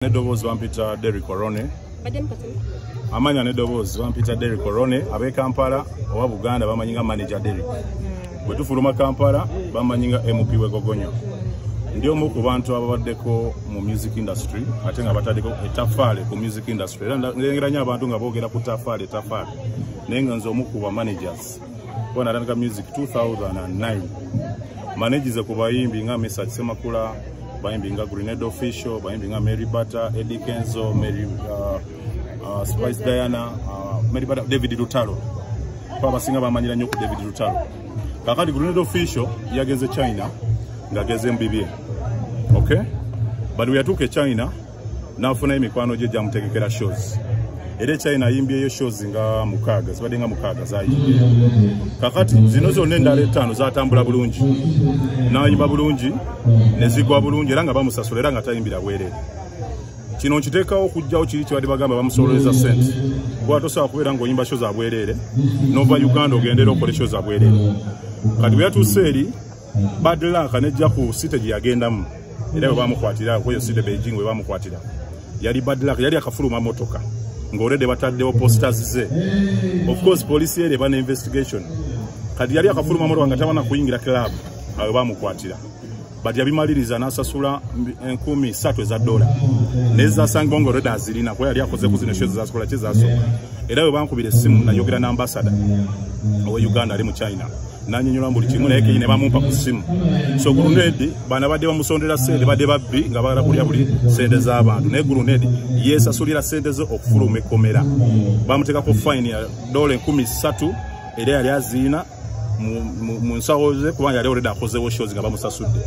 Nedoboozi bampita Derrick Orone. Amanya Nedoboozi bampita Derrick Orone abe Kampala owa Buganda bamanyi nga manager Derrick. Hmm. Bwe tufuluma Kampala bamanyi nga MP we Gogonyo. Ndi omu ku bantu ababaddeko mu music industry ate nga bataddeko etafaale ku music industry era ngeranya abantu nga boogera ku tafaale tafaale naye nga nze omu ku ba managers. kuba natandika music 2009 manegize ku bayimbi nga mesa kisemakula bayimbi nga grenade official bayimbi nga mary butter eddie kenzo mary uh, uh, spice diana uh, mary butter david lutalo kuba abasinga bamanyira nnyo ku david lutalo kakati grenade official yagenze china ngageze mubibye okay but weyatuuka e china n'afunayo mikwano gye gyamutegekera shows era echina ayimbyeyo shows nga mukaaga zibadde nga mukaaga zayimbye kakati zino zonna endala ettaano zatambula bulungi n'ayimba bulungi ne zigwa bulungi era nga bamusasula era nga tayimbira bwerere kino nkiteekawo okugjawo kiri kyebadde bagamba bamusololeza sente kuba tosobola kubeera ngaoyimba sho za bwereere nova uganda ogendera okole sho za bwereere kati bweyatuuse eri bad luck anejja ku site gye yagendamu era bwe bamukwatira kweyo site beijing bwe bamukwatira yali bad luck yali akafuluma motoka ng'olede bataddewo posters ze of course police ere bana investigation kati yali akafuluma motoka nga tabana kuyingira club awe bamukwatira but yabimaliriza n'asasula enkumi satu eza dola naye zasangibwa nga olweda azirina kuba yali akoze ku zino sho zezasikola kye zasooka era bwe bankubira essimu nayogera n'ambasada owe uganda ali mu china nanyonyola buli kimu naye kenyine bamumpa ku simu so gurunedi bana badde bamusondera sente badde babbi nga bagala kulya buli sente z'abantu naye gurunedi yesasulira sente ze okufuluma ekkomera bamuteekako fine ya dola enkumi ssatu era yali aziina mu nsawo ze kubanga yali oleda akozewo shozi nga bamusasudde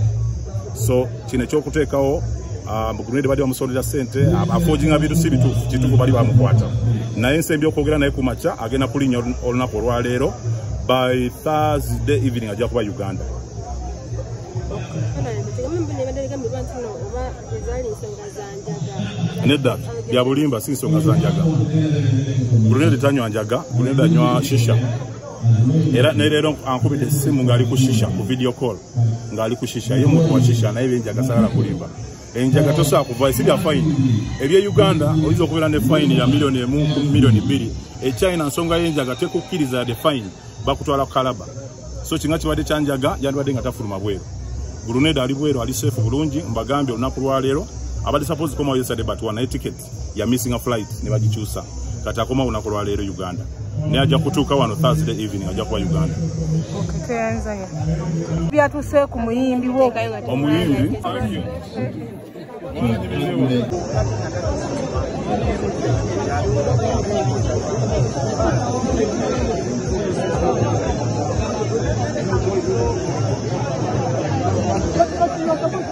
so kino ekyokuteekawo ah, mugruneedi bali bamusolera sente afoojinga bintu si bituufu kituufu bali bamukwata naye nsembye okwogera naye ku makya agenda kulinnya olunaku olwaleero by thursday evening ajja kuba uganda nedda byabulimba si nsonga za njaga brunedi tanywa njaga brunedi anywa shisha era neleero ankubidde essimu ng'ali ku shisha ku video call ng'ali ku shisha ye muntu wa shisha naye byenjaga sagala kulimba enjaga tosobola kuva si bya fayini ebye uganda oyinza okubeera ne fayini ya miliyoni emu ku miliyoni bbiri echina e nsonga y'enjaga tekukkiriza yadde fayini bakutwala ku kalaba so kinga kibadde kyanjaga yandibadde nga tafuluma bweru guluneda ali bweru ali seefu bulungi mbagambye olunaku lwaleero abadde sapozi komawo yesade batwa naye tiketi ya missing a flight ne bagikyusa kati akoma lunaku lwa leero uganda naye ajja kutuuka wano thursday evening ajja kuba uganda byatuse ku muyimbi wo omuyimbi Thank you.